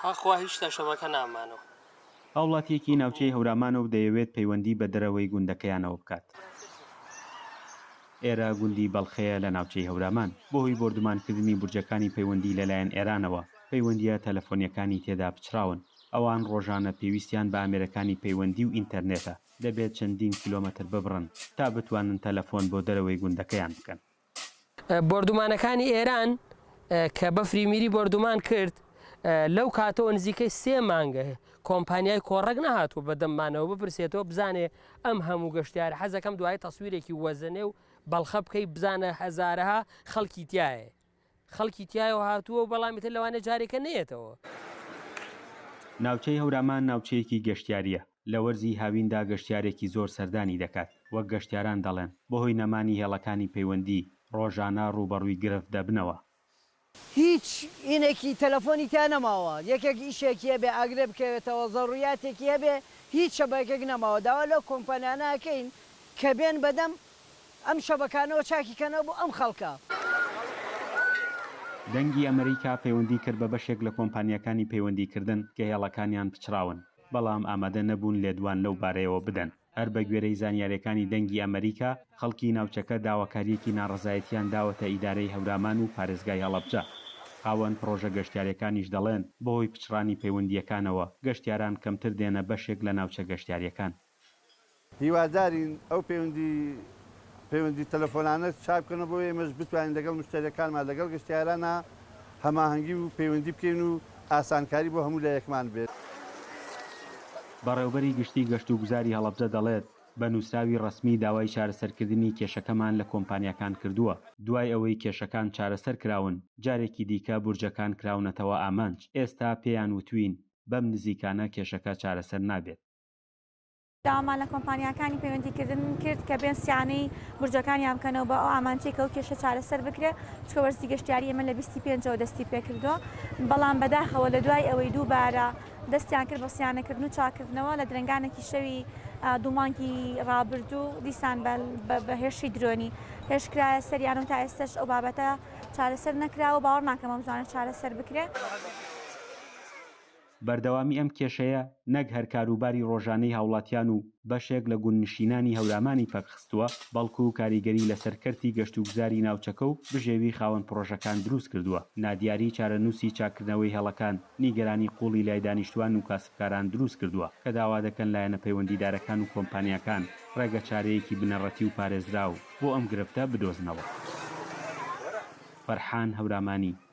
ئاخوا هیچ تەشەمەکە نامانۆ. هاوڵاتییەکی ناوچەی هەورامانۆ و دەیەوێت پەیوەندی بە دەرەوەی گوندەکەیانەوە بکات. ئێرە گوندی بەڵخەیە لە ناوچەی هەورامان. بەهۆی بۆردومانکردنی بورجەکانی پەیوەندی لەلایەن ئێرانەوە، پەیوەندییە تەلەفۆنییەکانی تێدا پچڕاون. ئەوان ڕۆژانە پێویستیان بە ئامێرەکانی پەیوەندی و ئینتەرنێتە، دەبێت چەندین کیلۆمەتر ببڕن تا بتوانن تەلەفۆن بۆ دەرەوەی گوندەکەیان بکەن. بۆردومانەکانی ئێران کە بەفری میری بۆردومان کرد لەو کاتەوە نزیکەی سێ مانگە کۆمپانیای کۆڕەک نەهاتوو بە دەممانەوە بپرسێتەوە بزانێ ئەم هەموو گەشتیار حەزەکەم دوای تەسویرێکی وەزنێ و بەڵخە بکەی بزانە هەزارەها خەڵکی تایە خەڵکی تایەوە هاتووە و بەڵامی تر لەوانە جارێکە نێتەوە. ناوچەی هەورامان ناوچەیەکی گەشتیارییە لە وەرزی هاویندا گەشتیارێکی زۆر سەردانی دەکات، وەک گەشتیاران دەڵێن، بەهۆی نەمانی هێڵەکانی پەیوەندی، ڕۆژانە ڕووبەڕووی گرفت دەبنەوە. هیچ ئینێکی تەلەفۆنی تیا نەماوە یەکێک ئیشێکی هەبێ ئاگرێ بکەوێتەوە زەڕوریاتێکی هەبێ هیچ شەبەکێک نەماوە داوا لەو کۆمپانیانە ئەکەین کە بێن بەدەم ئەم شەبەکانەوە چاکی کەنەوە بۆ ئەم خەڵکە. دەنگی ئەمەریکا پەیوەندی کرد بە بەشێک لە کۆمپانیاکانی پەیوەندی کردن کە هێڵەکانیان پچڕاون. بەڵام ئامادە نەبوون لێدوان لەو بارەیەوە بدەن. هەر بە گوێرەی زانیارییەکانی دەنگی ئەمەریکا، خەڵکی ناوچەکە داواکارییەکی ناڕەزایەتییان داوەتە ئیدارەی هەورامان و پارێزگای هەڵەبجە. خاوەن پڕۆژە گەشتیارییەکانیش دەڵێن، بەهۆی پچڕانی پەیوەندییەکانەوە، گەشتیاران کەمتر دێنە بەشێک لە ناوچە گەشتیارییەکان. هیوادارین ئەو پەیوەندی پەیوەندی تەلەفۆنانە چاک بکەنەوە بۆ ئێمەش بتوانین لەگەڵ مشتەریەکانمان لەگەڵ گەشتیارانا هەماهەنگی و پەیوەندی بکەین و ئاسانکاری بۆ هەموو لایەکمان بێت. بەڕێوبەری گشتی گەشتوگوزاری هەڵەبجە دەڵێت، بە نوسراوی ڕەسمی داوای چارەسەرکردنی کێشەکەمان لە کۆمپانیاکان کردووە، دوای ئەوەی کێشەکان چارەسەر کراون جارێکی دیکە بورجەکان کراونەتەوە ئامانج، ئێستا پێیان وتوین بەم نزیکانە کێشەکە چارەسەر نابێت. داوامان لە کۆمپانیاکانی پەیوەندیکردن کرد کە بێن سیانەی برجەکانیان بکەنەوە بە ئەو ئامانجەی کە ئەو کێشە چارەسەر بکرێت چکە وەرزی گەشتیاری ئێمە لە بیستی پێنجەوە دەستی پێکردووە بەڵام بەداخەوە لە دوای ئەوەی دووبارە دەستیان کرد بە سیانەکردن و چاکردنەوە لە درەنگانێکی شەوی دوومانگی ڕابردوو دیسان بە هێرشی درۆنی هێشکرایە سەریانم تا ئێستش ئەو بابەتە چارەسەر نەکراوە باوەڕ ناکەم ئەم زانە چارەسەر بکرێت. بەردەوامی ئەم کێشەیە نەک هەر کاروباری ڕۆژانەی هاوڵاتیان و بەشێک لە گوندنشینانی هەورامانی پەکخستووە، بەڵکو کاریگەری لەسەر کەرتی گەشتوگوزاری ناوچەکە و بژێوی خاوەن پڕۆژەکان دروستکردووە. نادیاری چارەنووسی چاککردنەوەی هێڵەکان، نیگەرانی قووڵی لای دانیشتوان و کاسبکاران دروستکردووە، کە داوا دەکەن لایەنە پەیوەندیدارەکان و کۆمپانیاکان ڕێگەچارەیەکی بنەڕەتی و پارێزراو بۆ ئەم گرفتە بدۆزنەوە. فەرحان هەورامانی.